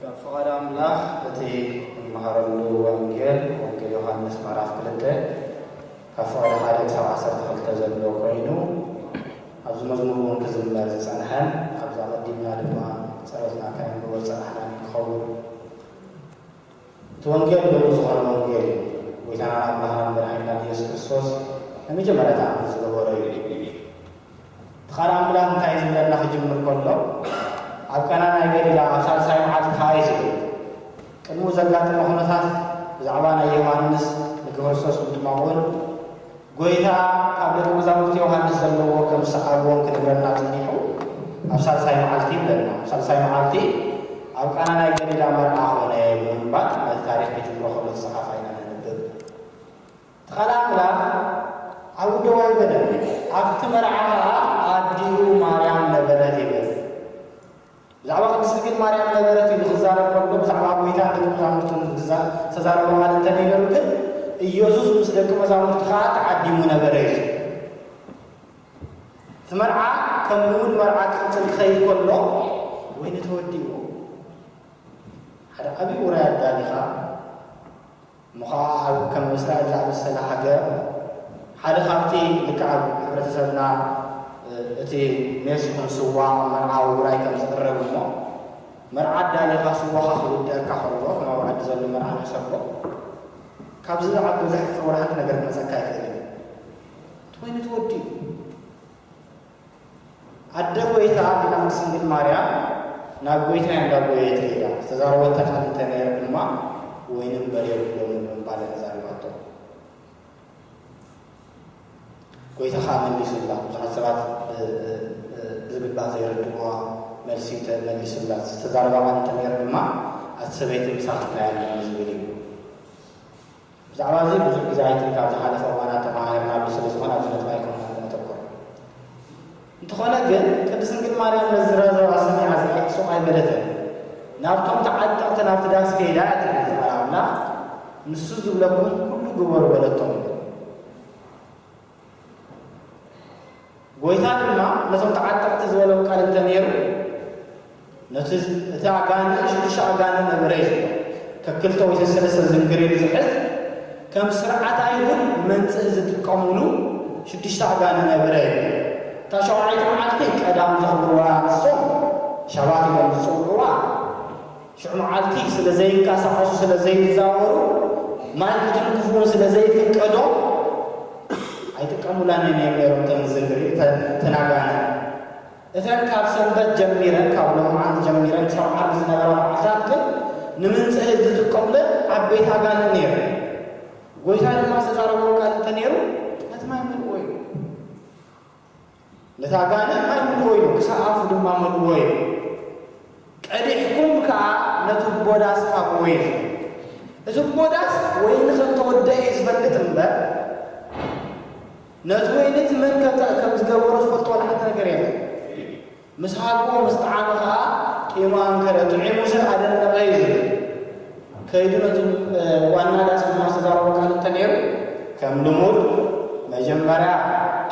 ካብ ፍቓድ ኣምላኽ እቲ እንመሃረሉ ወንጌል ወንጌል ዮሓንስ ምዕራፍ ክልተ ካብ ፍቕዲ ሓደ ክሳብ ዓሰርተ ክልተ ዘሎ ኮይኑ ኣብዚ መዝሙር እውን ክዝመር ዝጸንሐን ኣብዚ ኣቐዲምና ድማ ጸሎትና ከነንብቦ ዝጸናሕናን ክኸውን እቲ ወንጌል ምሉእ ዝኾነ ወንጌል እዩ። ጎይታናን ኣምላኽናን መድሓኒናን ኢየሱስ ክርስቶስ ናይ መጀመርያ ተኣምር ዝገበሮ እዩ። እቲ ቃል ኣምላኽ እንታይ እዩ ዝብለና ክጅምር ከሎ ኣብ ቀና ናይ ገሊላ ኣብ ሳልሳይ መዓልቲ ከኣ እዩ ዝብል። ቅድሙ ዘጋጠመ ኩነታት ብዛዕባ ናይ ዮሃንስ ንክርስቶስ ምጥማቕ እውን ጐይታ ካብ ደቀ መዛሙርቲ ዮሃንስ ዘለዎ ከም ዝሰዓብዎን ክነግረና ጸኒሑ ኣብ ሳልሳይ መዓልቲ ይብለና። ኣብ ሳልሳይ መዓልቲ ኣብ ቃና ናይ ገሊላ መርዓ ዀነ ብምባል ነቲ ታሪኽ ኪጅምሮ ከሎ ዝጸሓፋ ኢና ነንብብ። እቲ ቃል ኣምላኽ ኣብኡ ደው ኣይበለን፣ ኣብቲ መርዓ ኸኣ ኣዲኡ ማርያም ነበረት ይብል። ብዛዕባ ቅድስት ድንግል ማርያም ነበረት እዩ ንኽዛረብ ከሎ ብዛዕባ ጐይታ ንደቂ መዛሙርቱ ንምግዛእ ዝተዛረቦ ቃል እንተነይረሉ ግን ኢየሱስ ምስ ደቂ መዛሙርቱ ከኣ ተዓዲሙ ነበረ እዩ ዝብል። እቲ መርዓ ከም ልሙድ መርዓ ክቕጽል ክኸይድ ከሎ ወይኒ ተወዲእዎ ሓደ ዓብዪ ውራይ ኣዳሊኻ እሞ ኸኣ ኣብ ከም እስራኤል ዝኣመሰላ ሃገር ሓደ ካብቲ ልክዕ ኣብ ሕብረተሰብና እቲ ሜስ ይኹን ስዋ ኣብ መርዓ ውራይ ከም ዝቕረብ እሞ መርዓ ኣዳሊኻ ስዋኻ ክውድኣካ ከሎ ከም ኣብ ዓዲ ዘሎ መርዓ ሕሰቦ ካብዚ ዝዓቢ ዘሕፍር ወላ ሓንቲ ነገር ክመጸካ ኣይክእልን እዩ እቲ ወይኒ ተወዲኡ ኣደ ጐይታ ምዃን ስንግል ማርያም ናብ ጐይታ እያ እንዳጐየየት ከይዳ ዝተዛረበታ ቃል እንተ ነይሩ ድማ ወይኒ እምበር የብሎምን ብምባል እያ ተዛሪባቶ። ጐይታ ኸኣ መሊሱላ። ብዙሓት ሰባት ብዝግባእ ዘይርድእዋ መልሲ እንተ መሊሱላ ዝተዛረባ ቃል እንተ ነይሩ ድማ ኣቲ ሰበይቲ ምሳኺ እንታይ ኣለኒ ዝብል እዩ። ብዛዕባ እዚ ብዙሕ ግዜ ኣይትን ካብ ዝሓለፈ እዋናት ተመሃህርና ኣሎ ስለ ዝኾነ ኣብዚ ነጥቢ ኣይኮንናን እነተኩር። እንተኾነ ግን ቅድስት ድንግል ማርያም ነዚ ዝረዘባ ሰሚዓ ዝብኢ ሱቕ ኣይበለትን ናብቶም ተዓጠቕቲ ናብቲ ዳስ ከይዳ እያ ትብል እዚ ቃል ኣምላኽ ንሱ ዝብለኩም ኩሉ ግበሩ በለቶም ይብል። ጎይታ ድማ ነቶም ተዓጠቕቲ ዝበሎም ቃል እንተ ነይሩ፣ ነቲ እቲ ኣጋንንት ንሽዱሽተ ኣጋንንት ነበረ እዩ ዝብሎ። ከክልተ ወይ ሰሰለስተ ዝንግሪ ንዝሕዝ ከም ስርዓት ኣይሁድ መንጽህ ዝጥቀሙሉ ሽዱሽተ ኣጋንንት ነበረ እዩ። እታ ሸውዓይቲ መዓልቲ ቀዳም ዘኽብርዋ ንሶም ሻባት ኢሎም ዝጽውዕዋ ሽዑ መዓልቲ ስለ ዘይንቀሳቐሱ ስለ ዘይዛወሩ ማልክትን ክፉእን ስለ ዘይፍቀዶም ኣይጥቀሙላን እዮም ነይሮም እተን ዝንግሪ እተን ኣጋንንቲ እተን ካብ ሰንበት ጀሚረን ካብ ሎምዓንቲ ጀሚረን ክሳብ ዓርቢ ዝነበራ መዓልታት ግን ንምንጽህት ዝጥቀሙለን ዓበይቲ ኣጋንንቲ ነይረን ጎይታ ድማ ዝተዛረቦም ቃል እንተ ነይሩ ነቲ ማይ መልእዎ እዩ ነታ ጋኔን ኣልምድዎ ኢሉ ክሳብ ኣፉ ድማ መልእዎ ኢሉ ቀዲሕኩም ከኣ ነቲ ጎዳስ ሃብዎ ኢሉ እቲ ጎዳስ ወይኒ ከም ተወደአ እዩ ዝፈልጥ እምበር ነቲ ወይኒ እቲ መን ከም ዝገበሮ ዝፈልጦ ወላ ሓንቲ ነገር የለን ምስ ሃብኡ ምስ ጠዓመ ከኣ ጢሙ ኣንከረ። ጥዒሙሲ ኣደነቐ እዩ ዝብል። ከይዱ ነቲ ዋና ዳስ ድማ ዝተዛረቦ ቃል እንተ ነይሩ፣ ከም ልሙድ መጀመርያ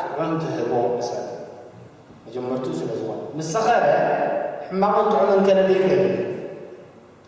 ጥዑም ትህቦ ንሰብ። መጀመርትኡ ስለ ዝወን። ምስ ሰኸረ ሕማቕን ጥዑምን ከለሊ ይኽእል እዩ።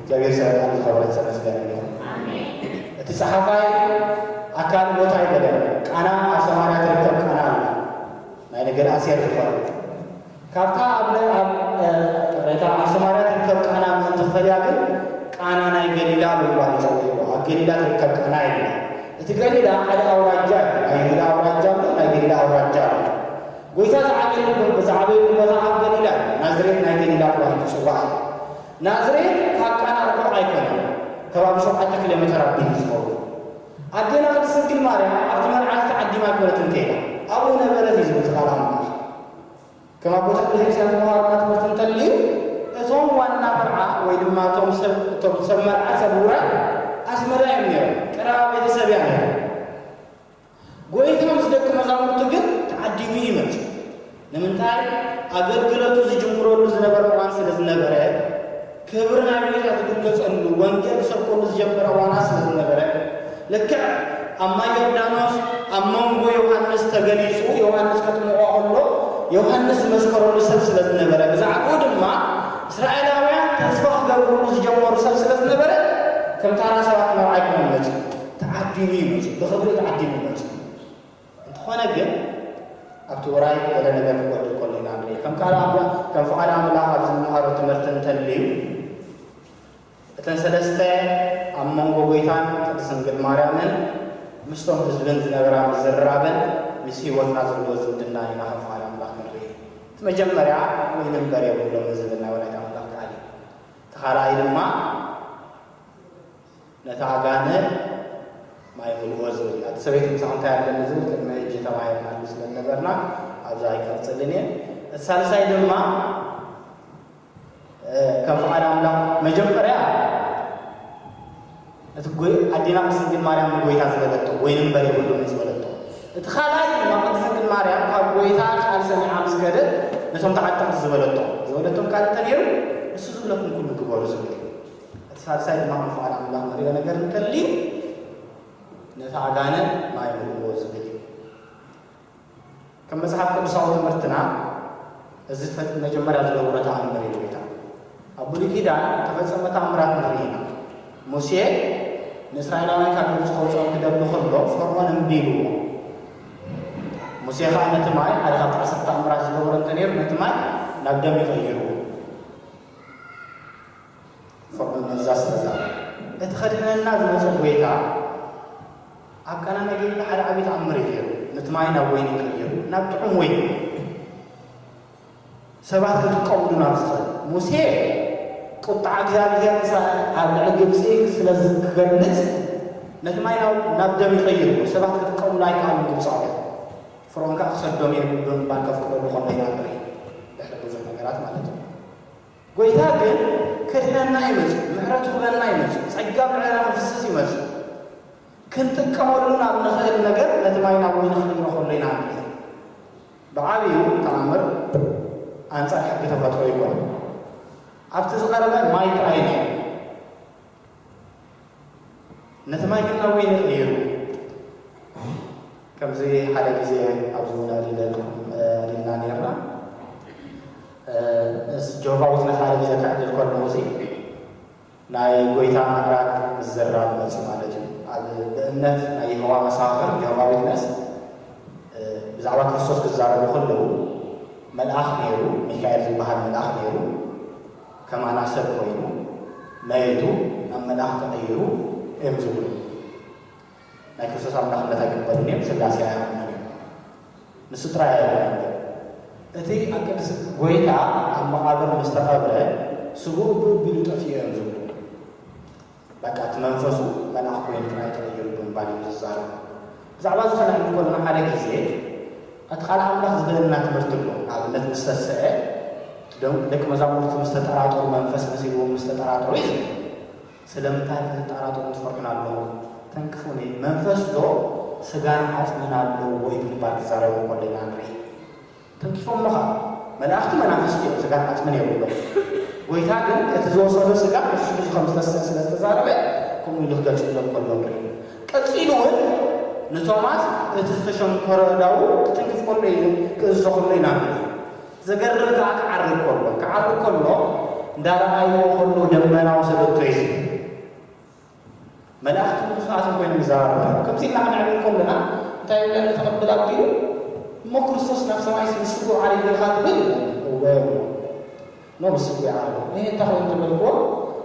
እግዚኣብሔር ሰላም ዝኸበረት ተመስገን ይኹን። እቲ ጸሓፋይ ኣካል ሞት ኣይበለን ቃና ኣብ ሰማርያ ትርከብ ቃና ኣላ ናይ ነገር ኣሴር ዝኾነ ካብታ ኣብ ቅሬታ ኣብ ሰማርያ ትርከብ ቃና ምእንቲ ክፈልያ ግን ቃና ናይ ገሊላ ብምባል ይጸውዕዎ ኣብ ገሊላ ትርከብ ቃና የላ እቲ ገሊላ ሓደ ኣውራጃ እዩ ናይ ይሁዳ ኣውራጃ ኣሎ ናይ ገሊላ ኣውራጃ ኣሎ ጎይታ ዝዓበየሉ ብዛዕበየሉ ቦታ ኣብ ገሊላ እዩ ናዝሬት ናይ ገሊላ ተባሂሉ ይጽዋዕ እዩ ናዝሬት ካብ ቃና ርሑቕ ኣይኮነን ከባቢ ሸውዓተ ኪሎ መተር ኣቢሉ እዩ ዝኸውን። ኣዴና ቅድስት ድንግል ማርያም ኣብቲ መርዓ እዚ ተዓዲማ ኣይኮነትን ከይዳ ኣብኡ ነበረት እዩ ዝብል እቲ ቃል ኣምላኽ። ከም ኣቦታት ቤተክርስቲያን ዝተማሃርና ትምህርቲ እንተልዩ እቶም ዋና መርዓ ወይ ድማ እቶም ሰብ እቶም ሰብ መርዓ ሰብ ውራይ ኣስመራ እዮም ነይሮም ቀረባ ቤተሰብ እያ ነይሮም። ጐይታ ምስ ደቀ መዛሙርቱ ግን ተዓዲሙ እዩ መጺኡ። ንምንታይ? ኣገልግሎቱ ዝጅምረሉ ዝነበረ እዋን ስለ ዝነበረ፣ ክብሪ ናይ ጐይታ ዝግለጸሉ፣ ወንጌል ክሰብከሉ ዝጀመረ እዋናት ስለ ዝነበረ። ልክዕ ኣብ ማይ ዮርዳኖስ ኣብ መንጎ ዮሃንስ ተገሊጹ ዮሃንስ ከጥምቖ ከሎ ዮሃንስ ዝመስከረሉ ሰብ ስለ ዝነበረ፣ ብዛዕባኡ ድማ እስራኤላውያን ተስፋ ክገብርሉ ዝጀመሩ ሰብ ስለ ዝነበረ ከም ታራ ሰባት መርዓ ኣይኮነን መጺኡ። ተዓዲሙ እዩ መጺኡ፣ ብኽብሪ ተዓዲሙ እዩ መጺኡ። እንተኾነ ግን ኣብቲ ውራይ ገለ ነገር ክጎድል ከሎ ኢና ንርኢ። ከም ቃል ኣምላኽ ከም ፍቓድ ኣምላኽ ኣብ ዝመሃሮ ትምህርቲ እንተልዩ እተን ሰለስተ ኣብ መንጎ ጎይታን ቅድስት ድንግል ማርያምን ምስቶም ህዝብን ዝነበራ ምዝርራብን ምስ ህይወትና ዘለዎ ዝምድና ኢና ከም ፍቓድ ኣምላኽ ክንርኢ። እቲ መጀመርያ ወይኒ እምበር የብሎምን ዝብል ናይ ወላዲተ ኣምላኽ ቃል እዩ። እቲ ካልኣይ ድማ ነታ ኣጋነ ማይ ምልእዎ ዝብል እያ። እቲ ሰበይቲ ምሳኹም እንታይ ኣለኒ ዝብል ቅድሚ ሕጂ ተማሂርናሉ ስለ ዝነበርና ኣብዚ ኣይቅርጽልን እየ። እቲ ሳልሳይ ድማ ከም ፍቓድ ኣምላኽ መጀመርያ እቲ ኣዴና ቅድስት ድንግል ማርያም ንጎይታ ዝበለቶ ወይን እምበር የብሉን ዝበለቶ እቲ ካልኣይ ድማ ቅድስት ድንግል ማርያም ካብ ጎይታ ቃል ሰሚዓ ምስ ከደት ነቶም ተዓጠቕቲ ዝበለቶ ዝበለቶም ካልእ እንተ ነይሩ ንሱ ዝብለኩም ኩሉ ግበሩ ዝብል እዩ። እቲ ሳልሳይ ድማ ከም ፍቓድ ኣምላኽ ንርእዮ ነገር እንተልዩ ነቲ ኣጋንንት ማይ ምልእዎ ዝብል እዩ። ከም መጽሓፍ ቅዱሳዊ ትምህርትና እዚ መጀመርያ ዝገብሮ ተኣምር እዩ ጌታ። ኣብ ብሉይ ኪዳን ተፈጸመ ተኣምራት ንርኢ ኢና። ሙሴ ንእስራኤላውያን ካብ ግብጺ ከውጽኦም ክደሊ ከሎ ፈርዖን እምቢ ኢልዎ። ሙሴ ከዓ ነቲ ማይ ሓደ ካብቲ ዓሰርተ ተኣምራት ዝገበሮ እንተ ነይሩ ነቲ ማይ ናብ ደም ይቐይርዎ። ፈቕዱልና እዛ ስለዛ እቲ ከድሕነና ዝመጾ ጎይታ ኣብ ቃና ነገሊላ ሓደ ዓቢ ተኣምር እዩ ገይሩ ነቲ ማይ ናብ ወይኒ ቀይሩ ናብ ጥዑም ወይኒ ሰባት ክጥቀምሉ ናብ ዝኽእል ሙሴ ቁጣዓ እግዚኣብሔር ኣብ ልዕሊ ግብፂ ስለ ክገልፅ ነቲ ማይ ናብ ደም ይቐይሩ ሰባት ክጥቀምሉ ኣይከኣሉን ግብፃውያን ፍርዖን ከዓ ክሰዶም እየ ብምባል ከፍቅደሉ ከሎ ኢና ንርኢ ድሕሪ ብዙሕ ነገራት ማለት እዩ ጐይታ ግን ከድሕነና እዩ መጺኡ፣ ምሕረቱ ክበና እዩ መጺኡ፣ ጸጋ ምዕረና ክፍስስ እዩ መጺኡ። ክንጥቀመሉ ናብ ንኽእል ነገር ነቲ ማይ ናብ ወይኒ ክንቕይሮ ከሎ ኢና ንርኢ። ብዓቢኡ ተኣምር ኣንጻር ሕጊ ተፈጥሮ ኣይኰነን። ኣብቲ ዝቐረበ ማይ ጥራይ እዩ ነይሩ። ነቲ ማይ ግን ናብ ወይኒ ቀይሩ ከምዚ ሓደ ግዜ ኣብዚ ውላድ ይደልኩም ሪልና ነርና ምስ ጆባ ውትነት ሓደ ግዜ ክዕድል ከለኹ እዚ ናይ ጎይታ ምዕራግ ምዝራብ መፅ ማለት እዩ ኣብ ብእምነት ናይ የሆዋ መሳኽር ጆባ ዊትነስ ብዛዕባ ክርስቶስ ክዛረቡ ከለዉ መልኣኽ ነይሩ ሚካኤል ዝበሃል መልኣኽ ነይሩ ከማና ሰብ ኮይኑ መይቱ ናብ መልኣኽ ተቐይሩ እዮም ዝብሉ። ናይ ክርስቶስ ኣምላኽነት ኣይቅበሉን እዮም፣ ስላሴ ኣይኣምኑን እዮም። ንሱ ጥራይ ኣይኮነን ግን እቲ ኣብ ቅድስ ጎይታ ኣብ መቓብር ምስ ተቐብረ ስግኡ ብእቢሉ ጠፊኡ እዮም ዝብሉ። በቃ እቲ መንፈሱ መልኣኽ ኮይኑ ጥራይ ተቐይሩ ብምባል እዩ ዝዛረብ። ብዛዕባ እዚ ከነዕልል ከሎና ሓደ ግዜ እቲ ቃል ኣምላኽ ዝብለና ትምህርቲ ኣሎ። ንኣብነት ምስ ተስዐ እቲ ደንቁ ደቂ መዛሙርቲ ምስ ተጠራጠሩ መንፈስ መሲልዎም ምስ ተጠራጠሩ እዩ ዝብል። ስለምንታይ ክትጣራጠሩን ትፈርሑን ኣለኹም? ተንክፉኒ መንፈስዶ ስጋን ዓጽምን ኣለዎ እዩ ብምባል ክዛረቡ ከሎ ኢና ንርኢ። ትንትፎሞ ከኣ መላእኽቲ መናፍስቲ እዮም ስጋን ዓጽምን የብሎም ጎይታ ግን እቲ ዝወሰዶ ስጋ ንሱ ሒዙ ከም ዝተስእ ስለ ዝተዛረበ ከምኡ ኢሉ ክገልጽሎም ከሎ ንርኢ ቀጺሉ ውን ንቶማስ እቲ ዝተሸንኮረ ኣእዳዉ ክትንክፍ ከሎ ኢዩ ክእዝዞ ከሎ ኢና ንርኢ ዘገርም ከኣ ክዓርግ ከሎ ክዓርግ ከሎ እንዳረኣይዎ ከሎ ደመና ወሰደቶ ኢዩ ዝብል መላእኽትን ርፉዓትን ኮይኖም ይዛረቡ ነይሮም። ከምዚ ኢልና ክንዕልል ከሎና እንታይ ይብለኒ ተቐብል ኣቢሉ እሞ ክርስቶስ ናብ ሰማይስ ምስ ስግኡ ዓሪጉ ኢኻ ትብል ይብለኒ። እወ እብሎ። እሞ ምስ ስግኡ እዩ ዓሪጉ። እህ እንተ ኾይኑ ተበልክዎ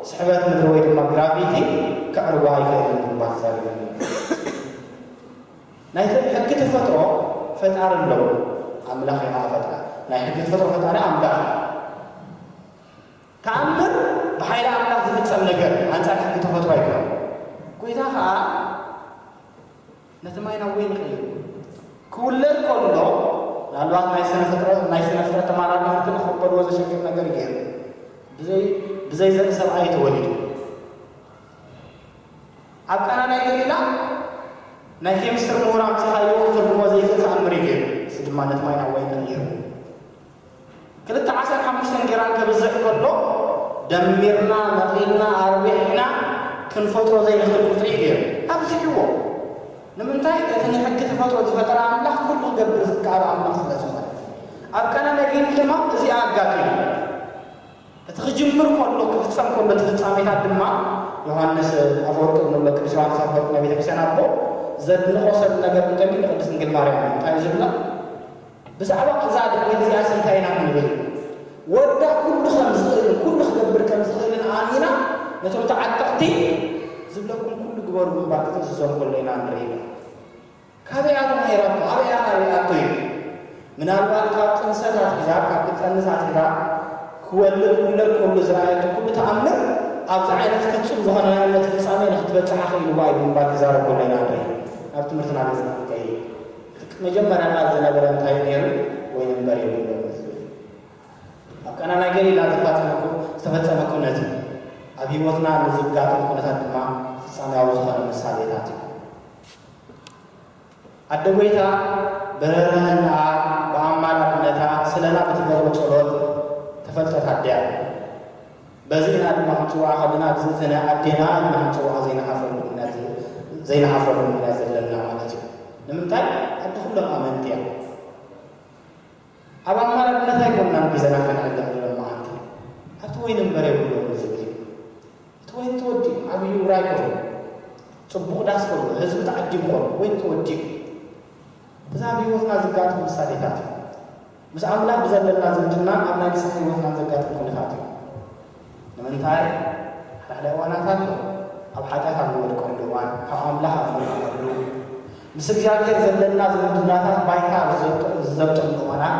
ስሕበት ምድሪ ወይ ድማ ግራቪቲ ከዕርጎ ኣይክእልን ብምባል ተዛሪቡኒ እዩ። ናይ ሕጊ ተፈጥሮ ፈጣሪ ኣለዎ። ኣምላኽ እዩ ኸኣ ፈጣሪ። ናይ ሕጊ ተፈጥሮ ፈጣሪ ኣምላኽ እዩ። ተኣምር ብሓይሊ ኣምላኽ ዝፍጸም ነገር ኣንጻር ሕጊ ተፈጥሮ ኣይኮነን። ጐይታ ኸኣ ነቲ ማይ ናብ ወይኒ ቀይርዎ። ክውለድ ከሎ ምናልባት ናይ ስነ ፍጥረት ናይ ስነ ፍጥረት ተመራመርቲ ንኽቕበልዎ ዘሸግር ነገር እዩ ነይሩ። ብዘይ ብዘይ ዘርኢ ሰብኣይ ተወሊዱ። ኣብ ቃና ናይ ገሊላ ናይ ኬሚስትሪ ምሁራን ጽሓይዎ ክትርጉሞ ዘይክእል ተኣምር እዩ ገይሩ። እዚ ድማ ነቲ ማይ ናብ ወይኒ ቀይርዎ። ክልተ ዓሰርተ ሓሙሽተ ግራም ከብዝሕ ከሎ ደሚርና መቒልና ኣርቢሕና ክንፈጥሮ ዘይንኽእል ቁጽሪ እዩ ገይሩ። ኣብዚሕዎ። ንምንታይ? እቲ ንሕጊ ተፈጥሮ ዝፈጠረ ኣምላኽ ኩሉ ክገብር ዝከኣሎ ኣምላኽ ስለ ዝኾነ። ኣብ ቃና ነጊኒ ድማ እዚ ኣጋጢሙ። እቲ ክጅምር ከሎ ክፍጸም ከሎ እቲ ፍጻሜታት ድማ ዮሃንስ ኣፈወርቅ እንብሎ ቅዱስ ዮሃንስ ኣፈወርቅ ናይ ቤተክርስትያን ኣቦ ዘድንቖ ሰብ ነገር እንተልዩ ንቅድስት ድንግል ማርያም እዩ። እንታይ እዩ ዝብላ? ብዛዕባ እዛ ድሕሪ እዚኣስ እንታይ ኢና ክንብል? ወዳ ኩሉ ከም ዝኽእልን ኩሉ ክገብር ከም ዝኽእልን ኣእሚና ነቶም ተዓጠቕቲ ዝብለኩም ኩሉ ግበሩ እምባ ክትእዝዞም ከሎ ኢና ንርኢና። ካበይ ኣቶ ነይራቶ ኣበይ ኣና ርኣቶ እዩ። ምናልባት ካብ ጥንሰት ኣትሒዛ ካብ ክትጠንስ ኣትሒዛ ክወልድ ውለድ ከሉ ዝረኣየቶ ኩሉ ተኣምር ኣብዚ ዓይነት ፍጹም ዝኾነ ናይ እምነት ፍጻሜ ንክትበጽሕ ኣኽኢልዋ እዩ ብምባል ክዛረብ ከሎ ኢና ንርኢ። ናብ ትምህርትና ገጽና ክንከይድ እቲ መጀመርያ ቃል ዝነበረ እንታይ እዩ ነይሩ? ወይኒ እምበር የብሉን እዩ ዝብል። ኣብ ቃና ናይ ገሊላ ዘፋጸመ ኩ ዝተፈጸመ ኩነት እዩ። ኣብ ህይወትና ንዝጋጥም ኩነታት ድማ ፍጻሜያዊ ዝኾነ ምሳሌታት እዩ። ኣደ ጐይታ ብርህራሀናኣ ብኣማላድነታ ስለና ብትገብሮ ጸሎት ተፈልጠት ኣደ እያ። በዚ ኢና ድማ ክንጽውዓ ከለና ኣግዝእትነ ኣዴና ኢልና ክንጽውዓ ዘይንሓፍረሉ ምኽንያት ዘይንሓፍረሉ ምኽንያት ዘለና ማለት እዩ። ንምንታይ ኣደ ኩሎም ኣመንቲ እያ። ኣብ ኣማላድነት ኣይኮናን ግዘና ከነዕልም ንብሎም መዓልቲ ኣብቲ ወይኒ እምበር የብሎምን ዝብል እዩ። እቲ ወይኒ ተወዲኡ ዓብዩ ውራይ ኮኑ ጽቡቕ ዳስ ኮኑ ህዝቢ ተዓዲሙ ኮኑ ወይኒ ተወዲኡ እዛ ኣብ ህይወትና ዝጋጥሙ ምሳሌታት እዩ። ምስ ኣምላኽ ብዘለና ዝምድና ኣብ ናይ ንስሓ ህይወትና ዘጋጥም ኩነታት እዩ። ንምንታይ? ሓድሓደ እዋናት ኣሎ ኣብ ሓጢኣት ኣብ ንወድቀሉ እዋን፣ ካብ ኣምላኽ ኣብ ንርሕቐሉ፣ ምስ እግዚኣብሄር ዘለና ዝምድናታት ባይታ ኣብ ዝዘብጠሉ እዋናት፣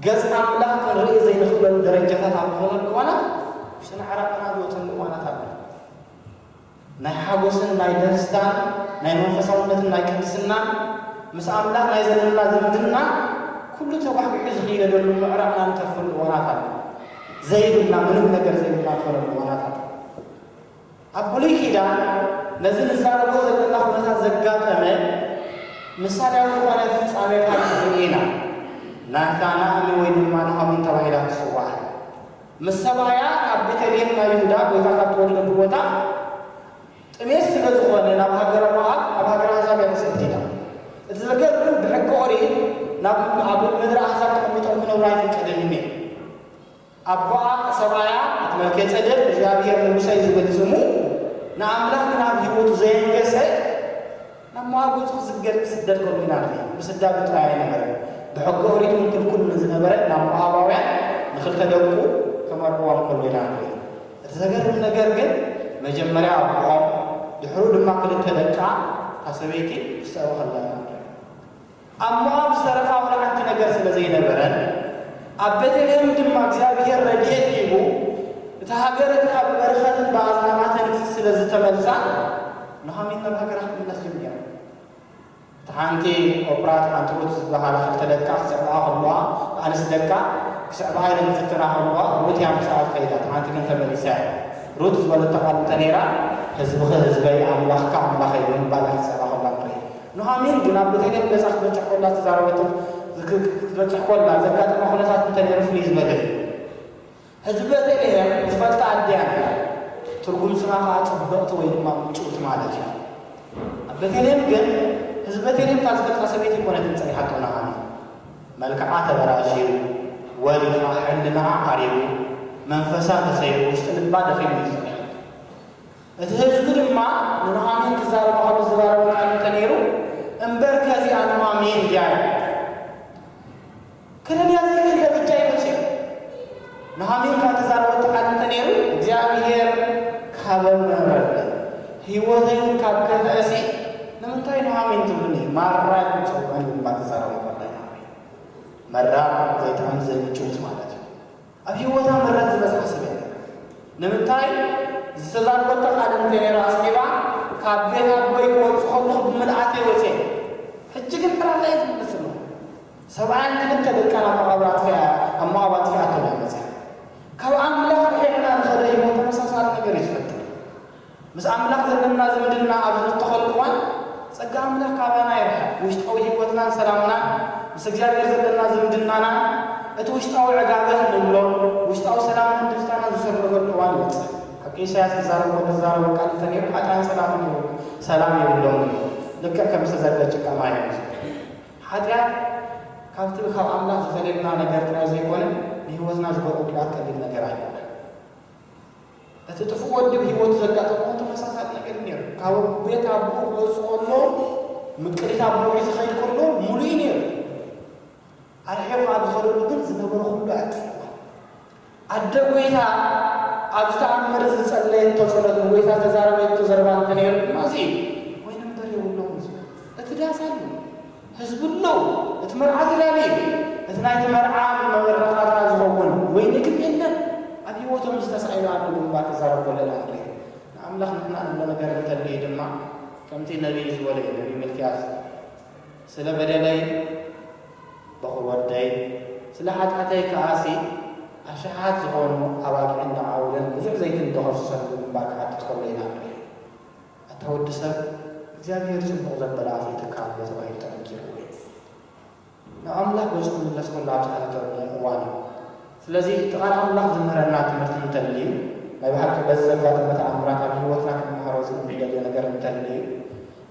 ገጽ ኣምላኽ ክንርኢ ዘይንኽእለሉ ደረጃታት ኣብ ንኾነሉ እዋናት፣ ውሽጥና ዕራቕና ዝወጸሉ እዋናት ኣሎ። ናይ ሓጎስን ናይ ደስታን ናይ መንፈሳውነትን ናይ ቅድስናን ምስ ኣምላኽ ናይ ዘለና ዝምድና ኩሉ ተጓሕጒሑ ዝኽየደሉ ምዕራፍና ንተርፈሉ እዋናት ኣሎ። ዘይብልና ምንም ነገር ዘይብልና ንኾነሉ እዋናት ኣሎ። ኣብ ብሉይ ኪዳን ነዚ ንዛረቦ ዘለና ኩነታት ዘጋጠመ ምሳሌያዊ ዝኾነ ፍጻሜታት ንርኢ ኢና። ናታናእሚ ወይ ድማ ናኦሚን ተባሂላ ትጽዋዕ። ምስ ሰብኣያ ካብ ቤተልሔም ናይ ይሁዳ ጎይታ ካብ ተወልደሉ ቦታ ጥሜት ስለ ዝኾነ ናብ ሃገረ ሞኣብ ኣብ ሃገረ ኣሕዛብ እያ ተሰደይዳ። እቲ ዘገርም ብሕጊ ኦሪት ናብ ኣብ ምድረ ኣሕዛብ ተቐሚጦም ክነብሩ ኣይፍቀድን እዩ ነይሩ። ኣቦኣ ሰብኣያ እቲ መልከጼዴቅ እግዚኣብሄር ንጉሰይ ዝብል ስሙ ንኣምላኽ ግና ኣብ ህይወቱ ዘየንገሰ ናብ መዋግእቱ ክዝገር ክስደድ ከምኡኢናት ምስዳዱ ጥራይ ኣይነበረን ብሕገ ኦሪት ውን ክልኩል ንዝነበረ ናብ ሞኣባውያን ንክልተ ደቁ ከመርዕዎም ከሎ ኢናት እቲ ዘገርም ነገር ግን መጀመርያ ኣቦኦም ድሕሩ ድማ ክልተ ደቃ እታ ሰበይቲ ክስዕቡ ከለዉ ኢና ንሪኦም ኣብ ሞኣብ ዝተረፋ ዋላ ሓንቲ ነገር ስለ ዘይነበረን፣ ኣብ ቤተልሔም ድማ እግዚኣብሄር ረድኤት ሂቡ፣ እታ ሃገር እቲኣ ብበረኸትን ብኣጽናናትን ስለ ዝተመልሳ፣ ኑሃሚን ናብ ሃገራ ክትምለስ ጀሚራ። እታ ሓንቲ ኦፕራ እታ ሓንቲ ሩት ዝበሃላ ክልተ ደቃ ክስዕብኣ ከለዋ፣ ኣንስቲ ደቃ ክስዕብኣ ኢለን ክፍትና ከለዋ፣ ሩት እያ ምሳኣ ዝኸይዳ፣ እታ ሓንቲ ግን ተመሊሳ እያ። ሩት ዝበለቶ ቃል እንተ ነይራ፣ ህዝብኺ ህዝበይ፣ ኣምላኽካ ኣምላኸይ ብምባል እያ ክትስዕባ ከላ እንርእይ። ኑሃሚን ግን ኣብ ቤተልሔም ገዛ ክትበጽሕ ኮላ ዝተዛረበቶን ክትበጽሕ ኮላ ዘጋጠማ ኩነታት እንተነይሩ ፍልይ ዝበለ እዩ። ህዝቢ ቤተልሔም ዝፈልጣ ኣዲኣ ነይራ፣ ትርጉም ስማ ከኣ ጽብቕቲ ወይ ድማ ምጭውቲ ማለት እዩ። ኣብ ቤተልሔም ግን ህዝቢ ቤተልሔም እታ ዝፈልጣ ሰበይቲ ኣይኮነትን ጸኒሓቶ ኑሃሚን። መልክዓ ተበላሽዩ፣ ወሪፋ፣ ሕልናኣ ዓሪቡ፣ መንፈሳ ተሰይሩ፣ ውሽጢ ልባ ደኺሙ እዩ ዝጸንሐሉ። እቲ ህዝቢ ድማ ንኑሃሚን ክዛረባ ከሎ ዝዛረቦ ቃል እንተ ነይሩ፣ እምበርከ እዚኣ ኑሃሚን ድያ? ኢሉ። ክርድያ ዘይክእል ደረጃ እዩ በጺሑ። ኑሃሚን ከኣ ተዛረበቶ ቃል እንተ ነይሩ፣ እግዚኣብሄር ካበ ምሀረኒ፣ ህይወተይ እውን ካብ ከፍአሲ፣ ንምንታይ ኑሃሚን ትብሉኒ? ማራ ኢልኩም ጸውዑኒ ብምባል ተዛረቦ። ኑሃሚን መራር፣ ዘይጥዕም፣ ዘይምጭውት ማለት እዩ። ኣብ ሂወታ ምረት ዝበጽሓ ሰብ የላን ንምንታይ ዝተዛረበቶ ቃል እንተ ነይሩ ኣስዒባ ካብ ቤት ኣቦይ ክወጽእ ከለኹ ብምልኣተይ ወጽየ ሕጂ ግን ዕላላ እየ ዝምልስ ዘለኹ ሰብኣያን ክልተ ደቃን ኣብ መቓብር ኣጥፊኣ ኣብ መቓብ ኣጥፊኣቶም እያ መጽያ ካብ ኣምላኽ ርሒቕና ንኸደ ሂወት ተመሳሳሊ ነገር እዩ ዝፈጥር ምስ ኣምላኽ ዘለና ዝምድና ኣብ ዝብተኸሉ እዋን ጸጋ ኣምላኽ ካባና ይርሕቕ፣ ውሽጣዊ ህይወትናን ሰላምናን፣ ምስ እግዚኣብሔር ዘለና ዝምድናናን እቲ ውሽጣዊ ዕጋበ እንብሎ ውሽጣዊ ሰላምናን ደስታናን ዝስርገሉ እዋን ይበጽሕ። ሓቂ ኢሳያስ ክዛረብ ከሎ ዝዛረቦ ቃል እንተነይሩ ሓጥኣን ሰላም እንድዩ ሰላም የብሎምን እዩ ልክዕ ከም ዝተዘርገ ጭቃ ማይ እዩ ዝብል። ሓጢኣት ካብቲ ካብ ኣምላኽ ዝፈልየና ነገር ጥራይ ዘይኮነ ንህይወትና ዝገብሮ ጉድኣት ቀሊል ነገር ኣይኮነን። እቲ ጥፉእ ወዲ ብህይወቱ ዘጋጠሞ እውን ተመሳሳሊ ነገር እዩ ነይሩ። ካብ ቤት ኣቦኡ ክወጽእ ከሎ፣ ምቅሪት ኣቦኡ ሒዙ ክኸይድ ከሎ ምሉእ እዩ ነይሩ። ኣርሒቑ ኣብ ዝኸደሉ ግን ዝነበረ ኩሉ ኣጥፊኡዋ። ኣደ ጐይታ ኣብ ዝተኣምር ዝጸለየቶ ጸሎት ንጐይታ ዝተዛረበቶ ዘረባ እንተነይሩ ድማ እዚ እዩ። ወይኒ እምበር የብሎምን ዝብሉ እቲ ዳስ ኣሎ። ህዝብሉ እቲ መርዓ ዝዳለ እዩ። እቲ ናይቲ መርዓ መበረታታ ዝኸውን ወይኒ ግን የለን። ኣብ ህይወቶም እዚ ተሳኢኑ ኣሎ ብምባል ክዛረብ ከሎ ኢና ንርኢ። ንኣምላኽ ንሕና ንብሎ ነገር እንተልዩ ድማ ከምቲ ነብዪ ዝበሎ እዩ፣ ነብዪ ሚልክያስ ስለ በደለይ በዅሪ ወደይ፣ ስለ ሓጢኣተይ ከኣሲ ኣሽሓት ዝዀኑ ኣባጊዕን ደዓውልን ብዙሕ ዘይትን ዶ ከፍስሰሉ ብምባል ክሓትት ከሎ ኢና ንርኢ። ኣታ ወዲ ሰብ እግዚኣብሄር ጽቡቕ ዘበለ ኣፍሊጡካ ኣሎ ተባሂሉ ተነጊርዎ እዩ። ናብ ኣምላኽ ገጹ ክምለስ ከሎ ኣብ ዝሓተተሉ እዋን እዩ። ስለዚ እቲ ቃል ኣምላኽ ዝምህረና ትምህርቲ እንተልዩ ናይ ብሓቂ በዚ ዘጋጠመ ተኣምራት ኣብ ህይወትና ክንመሃሮ ዝእንደልዮ ነገር እንተልዩ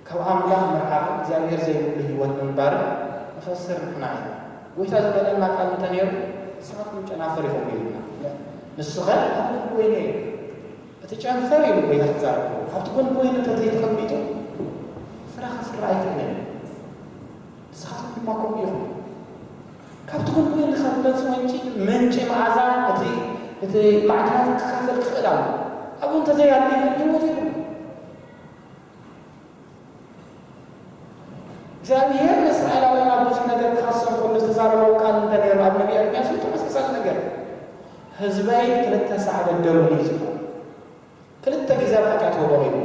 ካብ ኣምላኽ ምርሓቕን እግዚኣብሄር ዘይብሉ ህይወት ምንባርን ንኸስር ንሕና ኢና። ጎይታ ዝበለና ቃል እንተኔሩ ንስኻትኩም ጨናፍር ኢኹም ኢሉና። ንስኸ ኣብ ክንዲ ወይነይ ኢኹም። እቲ ጨንፈር ኢሉ ጎይታ ክዛረብ ከሎ ካብቲ ጎኒ ኮይኑ እንተዘይተቐሚጡ ፍረ ከፍሪ ኣይክእልን እዩ። ንስኻትኩም ድማ ከምኡ ኢኹም። ካብቲ ጎኒ ኮይኑ ካብ መጽ ወንጪ ምንጪ መዓዛ እቲ እቲ ማዕድናት ክካፈል ክኽእል ኣሎ። ኣብኡ እንተዘይኣልዩ ግን ህይወት የብሉን። እግዚኣብሄር ንእስራኤላውያን ኣብ ብዙሕ ነገር ክኸሶም ከሎ ዝተዛረቦም ቃል እንታይ ነይሩ? ኣብ ነብይ ኤርምያስ እውን ተመሳሳሊ ነገር ህዝበይ ክልተ ሳዕ በደሉኒ እዩ ዝበሎ። ክልተ ግዜ ኣብ ሓጢኣት ወደቑ እዩ።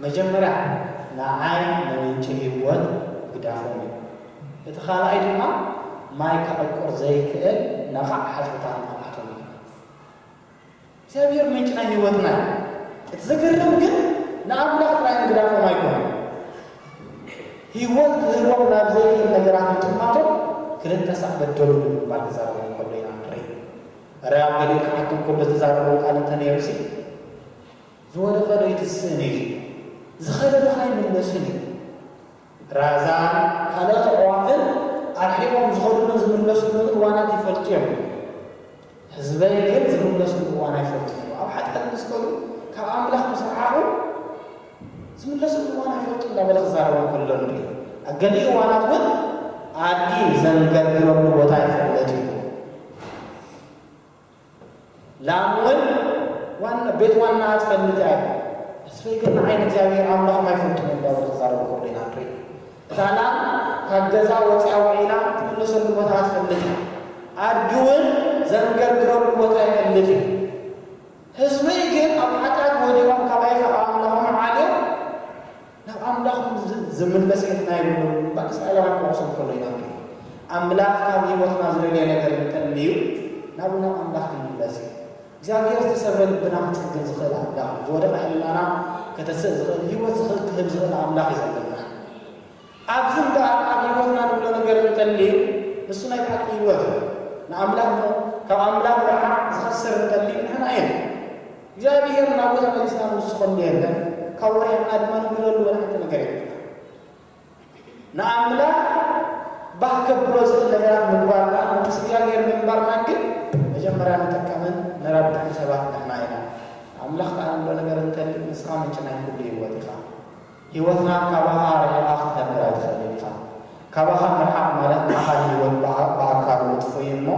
መጀመርያ ንዓይ ንምንጪ ህይወት ግዳፎም እዩ። እቲ ካልኣይ ድማ ማይ ከዕቁር ዘይክእል ነቓዕ ሓጹርታት ንኽኣቶም እዩ። እግዚኣብሔር ምንጭ ናይ ሕይወትና እዩ። እቲ ዘገርም ግን ንኣምላኽ ጥራይ ምግዳፎም ኣይኮነን። ሕይወት ክህቦም ናብ ዘይክእል ነገራት ምጥማቶም ክልተ ሳዕ በደሉ ብምባል ክዛረቦም ከሎ ኢና ንርኢ። እረ ኣብ ገሊኡ ክሓቶም ከሎ ዝተዛረቦ ቃል እንተ ነይሩሲ ዝወደቐዶ ኣይትስእን እዩ፣ ዝኸለዶኸ ኣይምለስን እዩ። ራዛን ካልኦት ኣዕዋፍን ኣርሒቖም ዝኸዱሉን ዝምለሱሉን እዋናት ይፈልጡ እዮም። ህዝበይ ግን ዝምለሱሉ እዋን ኣይፈልጡን እዮም። ኣብ ሓጢኣት ምስ ከዱ፣ ካብ ኣምላኽ ምስ ረሓቑ፣ ዝምለሱሉ እዋን ኣይፈልጡን እንዳበለ ክዛረቦም ከሎ ንርኢ። ኣብ ገሊኡ እዋናት እውን ኣድጊ ዘንገርግረሉ ቦታ ይፍለጥ እዩ። ላምወን ዋና ቤት ዋናኣ ትፈልጥ እያ ኢሉ። ተስፈይ ግን ንዓይ ንእግዚኣብሄር ኣምላኽ ማይ ፍንቱው ምንባሩ ክዛረቦ ከሎ ኢና ንርኢ። እታ ላም ካብ ገዛ ወጺኣ ውዒላ ትምለሰሉ ቦታ ትፈልጥ እያ። ኣድጊ ውን ዘንገርግረሉ ቦታ ይፈልጥ እዩ። ህዝበይ ግን ኣብ ሓጢኣት ወዲቖም ካባይ ካብ ኣምላኾም ዓልዮም ናብ ኣምላኹም ዚምለስ ሕልና የብሉን ብምባል እስራኤላውያን ኪወቕሶም ከሎ ኢና ንርኢ። ኣምላኽ ካብ ህይወትና ዚደልዮ ነገር እንተ ኣልዩ፣ ናብኡ ናብ ኣምላኽ ክንምለስ እዩ። እግዚኣብሄር ዝተሰብረ ልብና ኪጽግን ዚኽእል ኣምላኽ እዩ። ዝወደቐ ሕልናና ከተስእ ዚኽእል፣ ህይወት ዚኽእል ኪህብ ዚኽእል ኣምላኽ እዩ ዘለና። ኣብዚ እምበኣር ኣብ ህይወትና ንብሎ ነገር እንተ ኣልዩ፣ ንሱ ናይ ብሓቂ ህይወት እዩ። ንኣምላኽ ካብ ኣምላኽ ምርሓቕ ዚኸስር እንተ ኣልዩ ንሕና ኢና። እግዚኣብሔር ናብኡ ተመሊስና ንውስኸሉ የለን ካብ ወሪሕና ድማ ንግለሉ ወላሕቲ ነገር የብልና ንኣምላክ ባህ ከብሎ ዝኽእል ነገራት ምግባርና መንግስቲ እግዚኣብሔር ምንባርና ግን መጀመርያ ንጥቀምን ንረብሕን ሰባት ንሕና ኢና ኣምላኽ ከኣ ንብሎ ነገር እንተልዩ ንስኻ ምንጪ ናይ ኩሉ ህይወት ኢኻ ህይወትና ካባኻ ርሒቓ ክትነብር ኣይትኽእልን ኢኻ። ካባኻ ምርሓቕ ማለት ኣኻሊ ህይወት ብኣካሉ ምጥፍኡ እዩ እሞ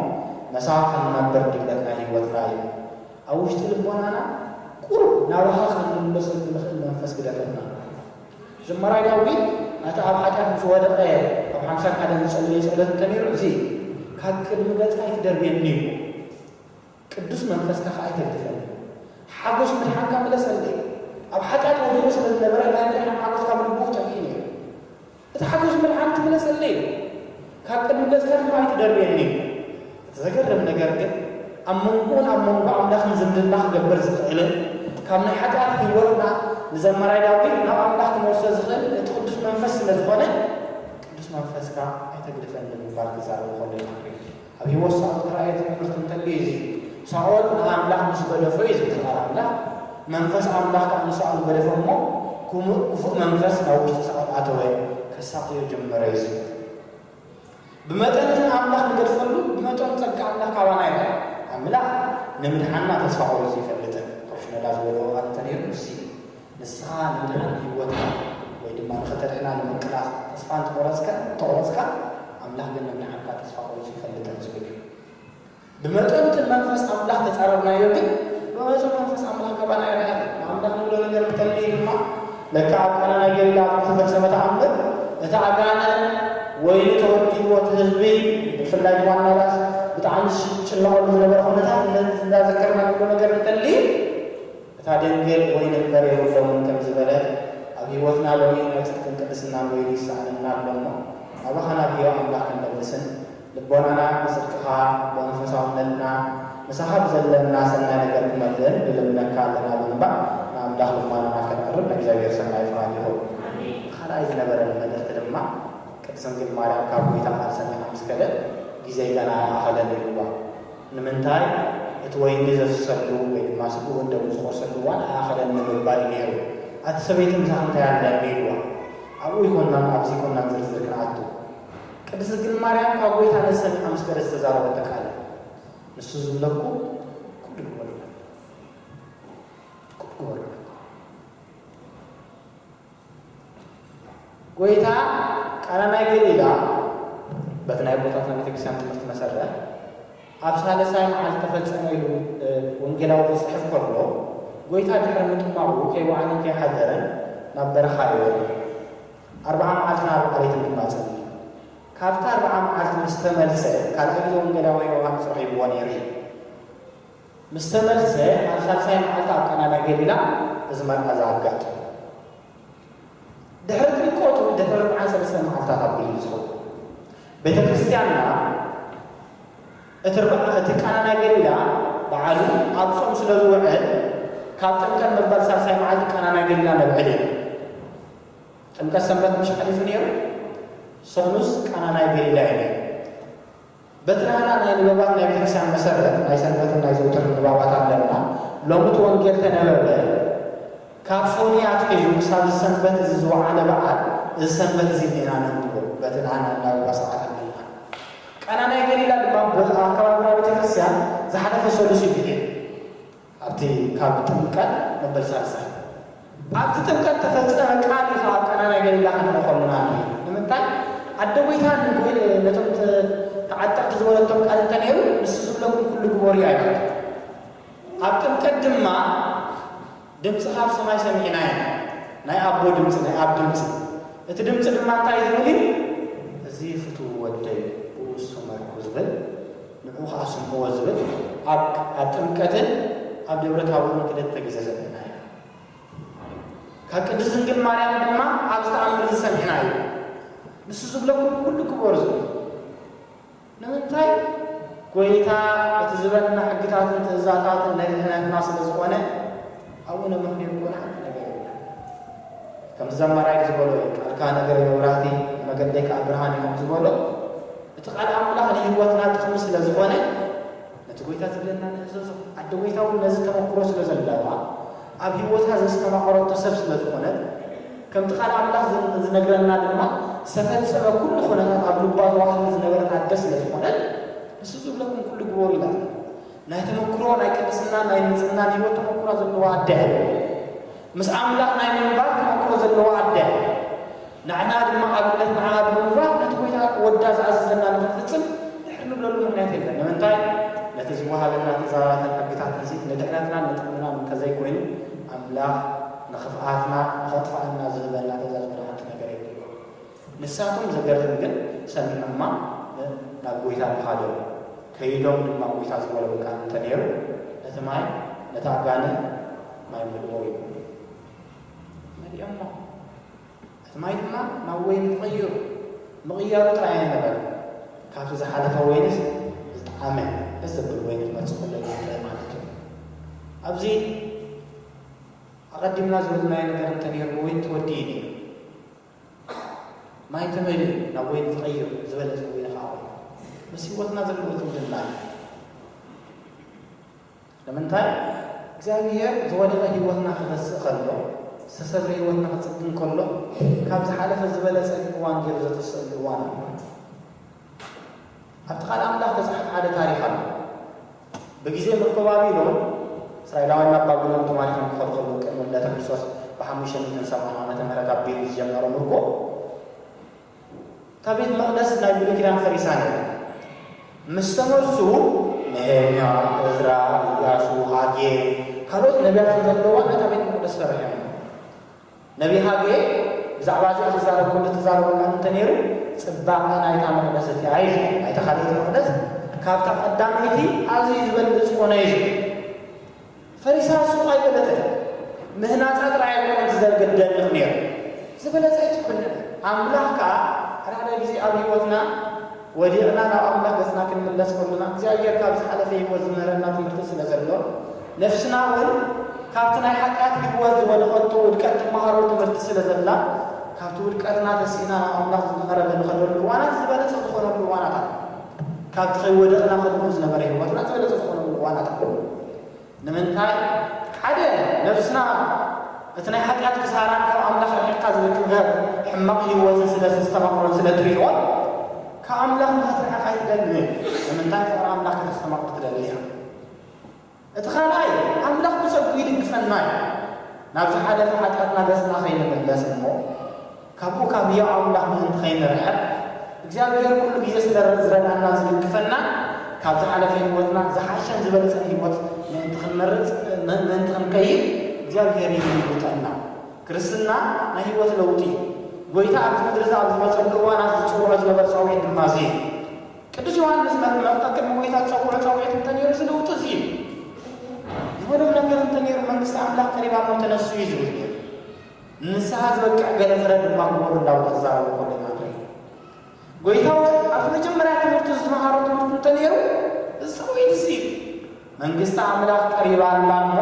መሳኻ ክንነብር ድሌት ናይ ህይወትና እዩ። ኣብ ውሽጢ ልቦናና ቁሩብ ናባኻ ክንምለሰሉ እንኽእል መንፈስ ግደፈልና። ዝማራይ ዳዊት ናቲ ኣብ ሓጢኣት ምስ ወደቐ ኣብ ሓምሳን ሓደን ዝጸለዮ ጸሎት እንተ ነይሩ እዚ እዩ። ካብ ቅድሚ ገጽካ ኣይትደርብየኒ እሞ። ቅዱስ መንፈስካ ከኣ ይደግፈኒ። ሓጐስ ምድሓንካ መለሰለይ። ኣብ ሓጢኣት ወዲቑ ስለ ዝነበረ ናይ ምድሓን ሓጐስ ካብ ልቡ ጠፊኡ ነይሩ። እቲ ሓጐስ ምድሓን ክምለሰለይ ኢሉ ካብ ቅድሚ ገጽካ ድማ ኣይትደርብየኒ ኢሉ። እቲ ዘገርም ነገር ግን ኣብ መንጎኡን ኣብ መንጎ ኣምላኽን ዝምድና ክገብር ዝኽእልን ካብ ናይ ሓጢኣት ህይወትና ንዘማራይ ዳዊት ናብ ኣምላኽ ክመልሶ ዝኽእልን እቲ ቅዱስ መንፈስ ስለ ዝኾነ ቅዱስ መንፈስካ ኣይተግድፈኒ ብምባል ክዛረብ ከሎ ኢና ንርኢ። ኣብ ህይወት ሳኦል እተራእየ ትእምርቲ እንተልዩ እዚ እዩ። ሳኦል ንኣምላኽ ምስ ገደፎ እዩ ዝብተኻር ኣምላኽ፣ መንፈስ ኣምላኽ ከኣ ንሳኦል ገደፎ እሞ ክሙእ ክፉእ መንፈስ ናብ ውሽጢ ሳኦል ኣተወ፣ ከሳቕዮ ጀመረ እዩ ዝብል። ብመጠን እቲ ንኣምላኽ ንገድፈሉ ብመጠኑ ጸጋ ኣምላኽ ካባና ይርኣ። ኣምላኽ ንምድሓንና ተስፋ ቆሪጹ ኣይፈልጥን። ፕሮሽነላ ዝበልዎ ቃል እንተነይሩ ንሱ እዩ። ንስኻ ንምድሓን ህይወትካ ወይ ድማ ንኸተድሕና ንምቅላስ ተስፋ እንተቖረጽከ እንተቑረጽካ ኣምላኽ ግን ንምድሓንካ ተስፋ ቆሪጹ ኣይፈልጥን ዝብል እዩ። ብመጠኑ እቲ ንመንፈስ ኣምላኽ ተጻረርናዮ ግን ብመጠኑ መንፈስ ኣምላኽ ካባና ኣይርሓቐን። ንኣምላኽ ንብሎ ነገር እንተልዩ ድማ ልክዕ ኣብ ቃና ናይ ገሊላ ኣብ ዝተፈጸመ ተኣምር እቲ ኣጋንንት ወይኒ ተወዲእዎ እቲ ህዝቢ ብፍላይ ድማ እናዳስ ብጣዕሚ ዝጭነቐሉ ዝነበረ ኩነታት እንዳ ዘከርና ንብሎ ነገር እንተልዩ እታ ደንገል ወይኒ እምበር የብሎምን ከም ዝበለ፣ ኣብ ሕይወትና ሎሚ ናይ ጽድቅን ቅድስናን ወይኒ ይሰኣነና ኣሎ እሞ፣ ናባኻ ናብ ሕያው ኣምላኽ ክንምልስን፣ ልቦናና ብጽድቅኻ፣ ብመንፈሳውነትና፣ ምሳኻ ብዘለና ሰናይ ነገር ክመልእን ንልምነካ ኣለና ብምባል ንኣምላኽ ልማኖና ከነቕርብ ናይ እግዚኣብሔር ሰናይ ፍቓድ ይኹን። እቲ ካልኣይ ዝነበረኒ መልእኽቲ ድማ ቅድስት ድንግል ማርያም ካብ ጐይታ ቃል ሰሚዓ ምስ ከደት፣ ጊዜይ ገና ኣይኣኸለን ኢልዋ። ንምንታይ እቲ ወይኒ ዘፍሰሉ ወይ ድማ ስግኡን ደሙን ዝቖርሰሉ እዋን ኣይኣኸለን ንምባል እዩ ነይሩ። ኣቲ ሰበይቲ ምሳኺ እንታይ ኣለ ቢልዋ። ኣብኡ ኣይኮናን ኣብ ዘይኮናን ዝርዝር ክንኣቱ። ቅድስት ድንግል ማርያም ካብ ጎይታ ነዚ ሰሚዓ ምስ ከደት ዝተዛረበቶ ቃል እዩ። ንሱ ዝብለኩ ኩሉ ግበሩ ኩሉ ግበሩ። ጐይታ ቃና ናይ ገሊላ በቲ ናይ ኣቦታትና ቤተ ክርስቲያን ትምህርቲ መሰረት ኣብ ሳልሳይ መዓልቲ ተፈጸመ ኢሉ ወንጌላዊ ክጽሕፍ ከሎ ጐይታ ድሕሪ ምጥማቑ ከይወዓለን ከይሓደረን ናብ በረኻ ነበረ። ኣርብዓ መዓልትን ኣርብዓ ለይትን ድማ ጸልዩ። ካብቲ ኣርብዓ መዓልቲ ምስ ተመልሰ ካልኣይ ግዜ ወንጌላዊ ዮሃንስ ረኺብዎ ነይሩ እዩ። ምስ ተመልሰ ኣብ ሳልሳይ መዓልቲ ኣብ ቃና ናይ ገሊላ እዚ መርዓ እዚ ኣጋጢሙ። ድሕሪ ጥምቀቱ ድሕሪ ርብዓን ሰለስተ መዓልታት ኣቢሉ እዩ ዝኸውን። ቤተ ክርስቲያንና እቲ ርብዓ እቲ ቃና ናይ ገሊላ በዓሉ ኣብ ጾም ስለ ዝውዕል ካብ ጥምቀት መበል ሳልሳይ መዓልቲ ቃና ናይ ገሊላ ነብዕል ኢና። ጥምቀት ሰንበት ምሽ ሓሊፉ ነይሩ፣ ሰኑስ ቃና ናይ ገሊላ እዩ ነይሩ። በቲ ናህና ናይ ንበባት ናይ ቤተክርስቲያን መሰረት ናይ ሰንበትን ናይ ዘውትርን ንባባት ኣለና። ሎሚ እቲ ወንጌል ተነበበ። ካብ ሶንያ ኣትሒዙ ክሳብ እዚ ሰንበት እዚ ዝወዓለ በዓል እዚ ሰንበት እዚ እኒና ነንብቦ በቲ ናህና እናበባ ሰዓት ኣለና። ቃና ናይ ገሊላ ድማ ኣብ ከባቢና ቤተክርስቲያን ዝሓለፈ ሰሉስ እዩ ብሒሉ። ኣብቲ ካብ ጥምቀት መበል ሳልሳይ። ኣብቲ ጥምቀት እተፈጸመ ቃል እዩ ኸኣ ኣብ ቃና ናይ ገሊላ ኸንርኢ ኸሎና ርኤ። ንምንታይ? ኣደ ጐይታ ንጐ ነቶም ተ ተዓጠቕቲ ዝበለቶም ቃል እንተ ነይሩ፣ ንሱ ዝብለኩም ኵሉ ግበሩ እዩ ኣይበለትን። ኣብ ጥምቀት ድማ ድምጺ ኻብ ሰማይ ሰሚዕና ኢና፣ ናይ ኣቦ ድምጺ፣ ናይ ኣብ ድምጺ። እቲ ድምጺ ድማ እንታይ ዝብል እዩ? እዚ ፍቱው ወደይ፣ ብእሱ መርኩ ዝብል። ንዑ ከኣ ስምዕዎ ዝብል ኣብ ጥምቀትን ኣብ ደብረ ታቦርን ክልተ ግዜ ሰሚዕና ኢና። ካብ ቅድስት ድንግል ማርያም ድማ ኣብዚ ተኣምር እዚ ሰሚዕና እዩ። ንሱ ዝብለኩም ኩሉ ግበሩ ዝብል ንምንታይ ጎይታ እቲ ዝበና ሕግታትን ትእዛታትን ናይ ድሕነትና ስለ ዝኾነ ኣቡነ ምክሊል እኮ ንሓንቲ ነገር ይብላ ከምቲ ዘማራይ ዝበሎ እዩ ቃልካ ነገረይ መብራህቲ ንመገደይ ከዓ ብርሃን እዩ ከምዝበሎ እቲ ቃል ኣምላኽ ንህይወትና ጥቕሚ ስለ ዝኾነ ነቲ ጎይታ ዝብለና ንእዘዞ ኣደ ጎይታ እውን ነዚ ተመክሮ ስለ ዘለዋ ኣብ ህይወታ ዘስተማቐረቶ ሰብ ስለ ዝኾነት ከምቲ ቃል ኣምላኽ ዝነግረና ድማ ዝተፈጸመ ኩሉ ኩነታት ኣብ ልባ ተዋሕሉ ዝነበረት ኣደ ስለ ዝኾነት ንሱ ዝብለኩም ኩሉ ግበሩ ኢላትና ናይ ተመክሮ ናይ ቅድስና ናይ ንጽህናን ህይወት ተመክሮ ዘለዋ ኣደ ምስ ኣምላኽ ናይ ምንባር ተመክሮ ዘለዋ ኣደ ንዕና ድማ ኣብነት ንዓ ብምንባር ነቲ ኮይታ ወዳ ዝኣዘዘና ንክንፍጽም ድሕር ንብለሉ ምክንያት የለን ንምንታይ ነቲ ዝወሃበና ትእዛዛትን ሕግታት እዚ ንድሕነትና ንጥቕምና እንተዘይኮይኑ ኣምላኽ ንክፍኣትና ንኸጥፋኣና ዝህበና ትእዛዝ ብርሃንቲ ነገር የብሉ ንሳቶም ዘገርም ግን ሰሚዖማ ናብ ጐይታ ምኻዶም እዩ። ከይዶም ድማ ጐይታ ዝበሎም ቃል እንተ ነይሩ እቲ ማይ ነታ ጋን ማይ ምልኦ እዩ እሞ መሊኦሞ እቲ ማይ ድማ ናብ ወይኒ ተቐይሩ። ምቕያሩ ጥራይ ኣይነበረን ካብቲ ዝሓለፈ ወይንስ ዝጠዓመ ደስ ዘብል ወይኒ ክመጽእ ከሎ እዩ ዝረኣ ማለት እዩ። ኣብዚ ኣቐዲምና ዝብልናዮ ነገር እንተ ነይሩ ወይኒ ተወዲኡ ነይሩ። ማይ ተመልኡ ናብ ወይኒ ተቐይሩ ዝበለት ወይኒ ከዓ ወይኒ ምስ ህይወትና ዘለዎ ዝምድና እዩ። ንምንታይ እግዚኣብሔር ዝወደቐ ህይወትና ክገስእ ከሎ ዝተሰብረ ህይወትና ክፅግን ከሎ ካብ ዝሓለፈ ዝበለፀ እዋን ገይሩ ዘተስእሉ እዋን ኣሎ። ኣብቲ ቃል ኣምላኽ ተፅሓፍ ሓደ ታሪክ ኣሎ። ብግዜ ምክባቢ ሎን፣ እስራኤላውያን ናብ ባቢሎን ተማሪኾም ክኸዱ ከለዉ፣ ቅድሚ ልደተ ክርስቶስ ብሓሙሽተ ሚእትን ሰብዓን ዓመተ ምህረት ኣብ ቤሪት ዝጀመረ ምርኮ እታ ቤት መቕደስ ናይ ብሉይ ኪዳን ፈሪሳ ነይራ። ምስ ተመልሱ ነሄምያ፣ እዝራ፣ ኢያሱ፣ ሃጌ ካልኦት ነቢያትን ዘለዋ ነታ ቤት መቕደስ ሰሪሖም እዮም። ነብይ ሃጌ ብዛዕባ እዚ ክዛረብ ከሎ ዝተዛረቦ ቃል እንተ ነይሩ ጽባቐ ናይታ መቕደስ እቲኣ እዩ ዝብል፣ ናይታ ካልኣይቲ መቕደስ ካብታ ቀዳመይቲ ኣዝዩ ዝበልጽ ኮነ እዩ ዝብል። ፈሪሳ ሱቕ ኣይበለትን፣ ምህናጻ ጥራይ ኣይኮነን ትዘርግ እትደንቕ ነይሩ፣ ዝበለጸ እዩ ትኩንዕ። ኣምላኽ ከኣ ሓድሓደ ግዜ ኣብ ህይወትና፣ ወዲቕና ናብ ኣምላኽ ገጽና ክንምለስ ከሎና እግዚኣብሄር ካብ ዝሓለፈ ህይወት ዝምህረና ትምህርቲ ስለ ዘሎ ነፍስና ውን ካብቲ ናይ ሓጢኣት ህይወት ዝወደቐቶ ውድቀት ትመሃሮ ትምህርቲ ስለ ዘላ ካብቲ ውድቀትና ተሲእና ናብ ኣምላኽ ዝመኸረሉ ንኸደሉ እዋናት ዝበለጸ ዝኾነሉ እዋናት ኣሎ ካብቲ ከይወደቕና ከድኑ ዝነበረ ህይወትና ዝበለጸ ዝኾነሉ እዋናት ኣሎ ንምንታይ ሓደ ነብስና እቲ ናይ ሓጢኣት ክሳራን ካብ ኣምላኽ ርሒቕካ ዝርከብ ሕማቕ ህይወትን ስለ ዘስተማቕሮን ስለ ትርእዮን ካብ ኣምላኽ ንኸትርሕቕ ኣይትደልን እየ። ንምንታይ ፍቕሪ ኣምላኽ ከተስተማቕር ትደሊ እያ። እቲ ካልኣይ ኣምላኽ ብጸጉ ይድግፈና እዩ። ናብ ዝሓለፈ ሓጢኣትና ገጽና ከይንምለስ እሞ ካብኡ ካብ ህያው ኣምላኽ ምእንቲ ኸይንርሕቕ፣ እግዚኣብሄር ኩሉ ግዜ ስለ ዚረድኣናን ዚድግፈናን፣ ካብ ዝሓለፈ ህይወትና ዝሓሸን ዝበለጸን ህይወት ምእንቲ ኽንመርጽ ምእንቲ ኽንቀይር እግዚኣብሄር ይልውጠና። ክርስትና ናይ ህይወት ለውጢ እዩ። ጐይታ ኣብቲ ምድሪ እዚ ኣብ ዝመጸሉ እዋናት ዝጽውዖ ዝነበረ ጸውዒት ድማ እዚ እዩ። ቅዱስ ዮሃንስ መጥምቕ ቀቅድሚ ጐይታ ዝጸውዖ ጸውዒት እንተ ነይሩ እዚ ለውጢ እዚ እዩ ዝበሎ ነገር እንተ ነይሩ መንግስቲ ኣምላኽ ቀሪባ እሞ ተነስኡ እዩ ዝብል ነይሩ። ንንስሓ ዝበቅዕ ገለ ፍረ ድማ ክበሉ እንዳበሉ ክዛረቡ ከለዉ ኢና ንርኢ። ጎይታ ውን ኣብቲ መጀመርያ ትምህርቱ ዝመሃሮ ትምህርቲ እንተነይሩ እዚ ሰብኡይ እዚ እዩ። መንግስቲ ኣምላኽ ቀሪባ ኣላ እሞ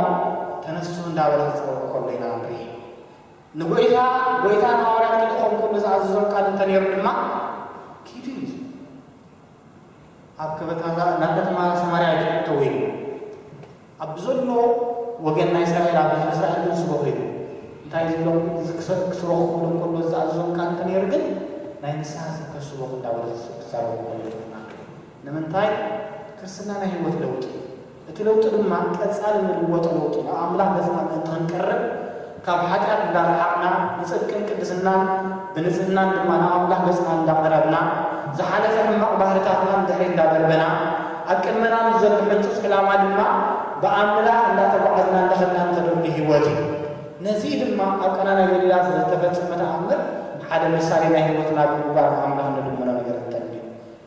ተነሱ እንዳበለ ክጽውዕ ከሎ ኢና ንርኢ። ንጎይታ ጎይታ ንሃዋርያት ክልእኾም ከሎ ዝኣዘዞም ቃል እንተነይሩ ድማ ኪዱ እዩ ዝብል። ኣብ ከበታታ ናብ ከተማ ሰማርያ ኣይትእተው ኢሉ ኣብ ብዘሎ ወገን ናይ እስራኤል ኣብ ህዝቢ እስራኤል ግን ስበኹ ኢሉ እንታይ ዝብሎም እዚ ክሰ- ክስበኹ ክብሎም ከሎ ዝኣዘዞም ቃል እንተነይሩ ግን ናይ ንስሓ ስብከት ስበኹ እንዳበለ ክዛረቡ ከሎ ይርድና ንምንታይ ክርስትና ናይ ህይወት ለውጢ እዩ እቲ ለውጢ ድማ ቀጻሊ ንልወጦ ለውጢ ናብ ኣምላኽ ገጽና ምእንቲ ክንቀርብ ካብ ሓጢኣት እንዳረሓቕና ንጽድቅን ቅድስናን ብንጽህናን ድማ ናብ ኣምላኽ ገጽና እንዳቐረብና ዝሓለፈ ሕማቕ ባህርታትና ንድሕሪት እንዳበርበና ኣብ ቅድመና ምስ ዘሎ ሕንጹጽ ዕላማ ድማ ብኣምላኽ እንዳተጓዓዝና እንዳኸድና ንኸደሉ ሕይወት እዩ። ነዚ ድማ ኣብ ቃና ናይ ገሊላ ዝተፈጸመ ተኣምር ሓደ ምሳሌ ናይ ሕይወትና ብምግባር ንኣምላኽ ንልምኖ ነገር እንተልዩ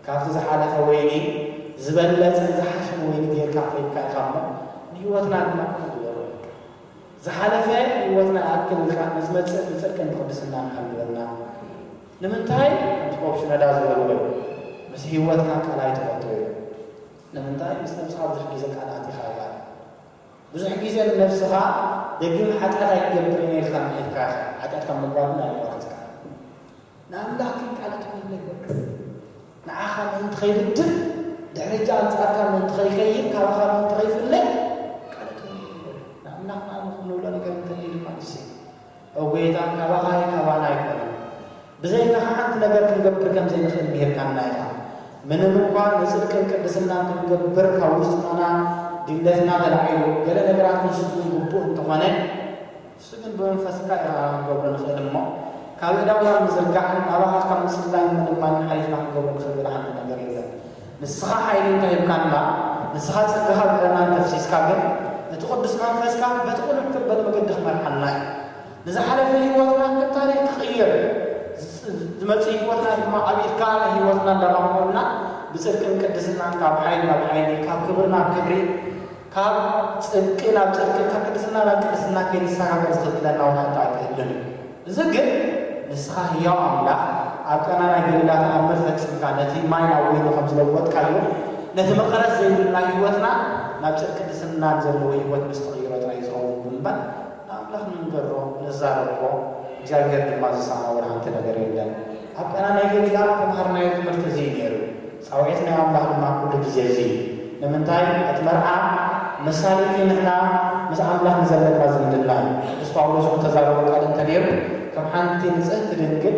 ካብቲ ዝሓለፈ ወይኒ ዝበለጸን ዝሓሸን ወይኒ ገይርካ ኣፍሪምካ ኢኻ እሞ፣ ንህይወትና ድማ ክፉት ዝበሎ እዩ። ዝሓለፈ ህይወትና ይኣክል ኢልካ ንዝመጽእ ብጽድቅን ብቕድስናን ሃልወና። ንምንታይ? ከምቲ ፖፕ ሽኖዳ ዝበልዎ እዩ፣ ምስ ህይወትካ ቀላይ ትኸቶ እዩ። ንምንታይ? ምስ ነብስኻ ብዙሕ ግዜ ቃል ኣቲኻ ኢኻ። ብዙሕ ግዜ ንነብስኻ ደጊም ሓጢኣት ኣይገብርን እየ ኢልካ ምሒርካ ኢኻ። ሓጢኣት ካብ ምግባር ግን ኣየቋረጽካን። ንኣምላኽ ክንቃለድ ኰይንና ይወቅስ። ንዓኻ ምእንቲ ኸይብድል፣ ድሕሪ'ቲ ኣንጻርካ ምእንቲ ኸይከይድ፣ ካባኻ ምእንቲ ኸይፍለ ይቃለድ ኰይኑ እዩ በሎ። ንኣምላኽ ንኣምላኽ እንብሎ ነገር እንተልዩ ድማ ንሱ እዩ። ኦ ጐይታ፣ ካባኻ እዩ ካባና ኣይኰነን። ብዘይካኻ ሓንቲ ነገር ክንገብር ከም ዘይንኽእል ምሂርካና ኢኻ። ምንም እኳ ንጽድቅን ቅድስናን ክንገብር ካብ ውሽጥና ድሌትና ተላዒሉ ገለ ነገራት ክንሽፍን ግቡእ እንተዀነ፣ ንሱ ግን ብመንፈስካ ኢኻ ክንገብሮ ንኽእል እሞ ካብ ኣእዳውና ምዝርጋሕን ናባኻ ካብ ምጽላይን ምልማንን ሓሊፍና ክንገብሮ ንኽእል ገለ ሓንቲ ነገር የለን። ንስኻ ሓይሊ እንተ ሂብካና ንስኻ ጸጋኻ ኣብ ልዕለና እንተ ኣፍሲስካ ግን እቲ ቅዱስ መንፈስካ በቲ ቅኑዕ ዘበለ መገዲ ክመርሓና እዩ። ንዝሓለፈ ህይወትና ከም ታሪኽ ክቕየር ዝመጽእ ህይወትና ድማ ኣብ ኢድካ ንህይወትና እንዳማመቕና ብጽድቅን ቅድስናን ካብ ሓይሊ ናብ ሓይሊ ካብ ክብሪ ናብ ክብሪ ካብ ጽድቂ ናብ ጽድቅን ካብ ቅድስና ናብ ቅድስና ከይንሰጋገር ዝኽልክለና ውን ሓንቲ ኣይተ ህሉን እዩ። እዚ ግን ንስኻ ህያው ኣምላኽ ኣብ ቀና ናይ ገሊላ ተኣምር ፈጺምካ ነቲ ማይ ናብ ወይኒ ከም ዝለወጥካዮ ነቲ መቐረት ዘይብልና ሕይወትና ናብ ጽድቅ ቅድስናን ዘለዎ ሕይወት ምስ ትቕይሮ ጥራይ እዩ ዝኸውን ብምባል ንኣምላኽ ንንገሮ ንዛረቦ እግዚኣብሔር ድማ ዝሰምዖ ውን ሓንቲ ነገር የለን። ኣብ ቀና ናይ ገሊላ ዝተምሃርናዮ ትምህርቲ እዚ እዩ ነይሩ። ጻውዒት ናይ ኣምላኽ ድማ ኩሉ ግዜ እዚ እዩ። ንምንታይ? እቲ መርዓ ምሳሌ እቲ ንሕና ምስ ኣምላኽ ንዘለና ዝምድና እዩ። ቅዱስ ጳውሎስ እውን እተዛረቦ ቃል እንተ ነይሩ ከም ሓንቲ ንጽህቲ ድንግል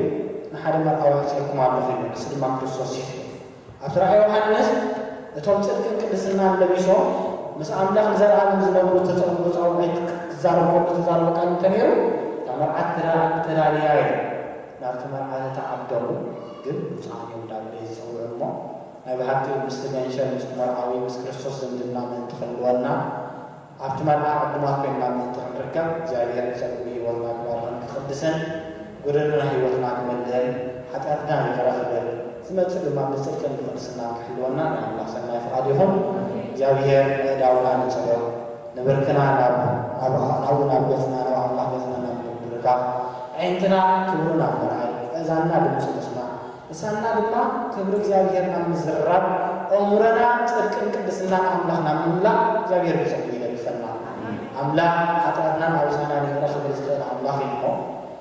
ንሓደ መርዓዊ ኣምጺኤልኩም ኣለኹ ይብል፣ ንሱ ድማ ክርስቶስ ኢዩ ትብል። ኣብቲ ራእይ ዮሓንስ እቶም ጽድቅን ቅድስናን ለቢሶም ምስ ኣምላኽ ንዘለኣለም ዝነብሩ እተጸንብሩ ጻውዒት ክዛረብ ከሎ እተዛረቦ ቃል እንተ ነይሩ እታ መርዓት ተዳልያ ኢሉ። ናብቲ መርዓ ዝተዓደሙ ግን ብጹኣን እዮም ዳግመ ዝጽውዑ እሞ ናይ ብሓቂ ምስቲ ገንሸል ምስቲ መርዓዊ ምስ ክርስቶስ ዝምድና ምእንቲ ክህልወና ኣብቲ መርዓ ዕዱማት ኮይንና ምእንቲ ክንርከብ እግዚኣብሔር ብጸግኡ ሕይወትና ክባርኽን ክቅድስን ጎደንና ሕይወትና ክመልእን ሓጢኣትና ይቅረ ክብል ዝመጽእ ድማ ብጽድቅን ብቅድስናን ክሕልወና ናይ ኣምላኽ ሰናይ ፍቃድ ይኹን እግዚኣብሔር ኣእዳውና ንጸሎ ንብርክና ናብ ናብራ ናብኡ ናብ ገጽና ናብ ኣምላኽ ገጽና ናብ ምብርካኽ ኣዒንትና ክብሩ ናብ ምርኣይ እእዛንና ድምጹ ምስማዕ ልሳንና ድማ ክብሪ እግዚኣብሄር ናብ ምዝርራብ ኣእምሮና ጽድቅን ቅድስናን ኣምላኽ ናብ ምምላእ እግዚኣብሄር ብጸግኡ ይደግፈና ኣምላኽ ሓጢኣትናን ኣበሳናን ይቕረ ክብል ዝኽእል ኣምላኽ እዩ እሞ